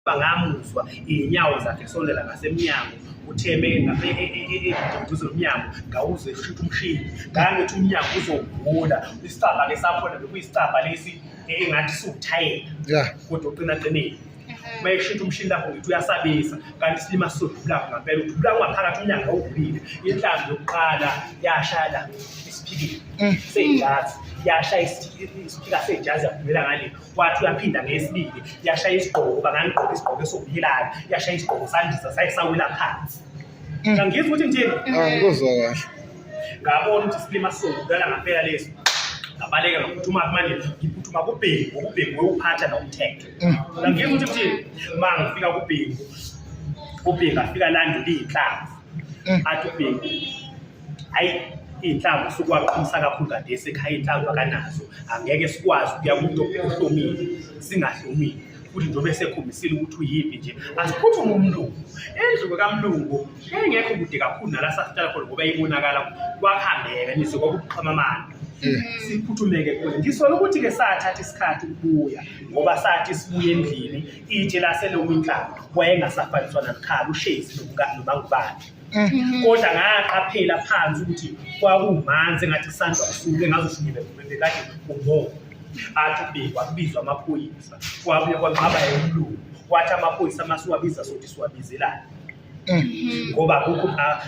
ngoba ngamuzwa iy'nyawo zakhe sondela ngasemnyango utheme eduze nomnyango ngawuze ushutha umshini ngangithi umnyango uzowuvula isicabha-ke sakhona bekuyisicabha lesi engathi siwuthayela kodwa uqinaqinile uma eshutha umshini lapho ngithi uyasabisa kanti isilima sizodubulako ngampela udubulako ungaphakathi umnyango awuvulile inhlambi yokuqala yashaya la isiphikile mm. seyijazi yashaya isiphika seyijazi yaphumela ngale wathi uyaphinda ngeyesibili yashaya isigqoko uba ngangigqoke isigqoko esokuhilana yashaya isigqoko sandisa saye sawela phansi ngangizwa ukuthi ngithini angikuzwa kahle ngabona ukuthi silima sokudala ngampela lesi ngabaleka ngaphuthuma manje ngiphuthuma kubhengu ukubhengu wewuphatha nomthetho ngangizwa ukuthi ngithini ma ngifika kubhengu ubhengu afika landula iy'nhlanzi athi ubhengu hayi iy'nhlamvu sukwaqhumisa kakhulu kade esekhaya iy'nhlamvu akanazo angeke sikwazi ukuya kumuntu ohlomile singahlomile futhi njengoba esekhombisile ukuthi uyiphi nje asiphuthume umlungu endluku kamlungu engekho kude kakhulu nala sasihlala khona ngoba ibonakala kwakuhambeka nizwe kwakuqhama amandla siphuthumeke kuyo ngisola ukuthi-ke sathatha isikhathi ukubuya ngoba sathi sibuye endlini itshe laselowintlanga wayengasafaniswa namkhala ushezi nomangubakhe Mm. kodwa ngaqaphela phansi ukuthi kwakumanzi engathi kusandwa kusuke ngazishukile bekade kubovu athi kubikwa kubizwa amaphoyisa kwabuye kwanqaba yomlungu wathi amaphoyisa masiwabiza sothi siwabizelani mm. ngoba kukho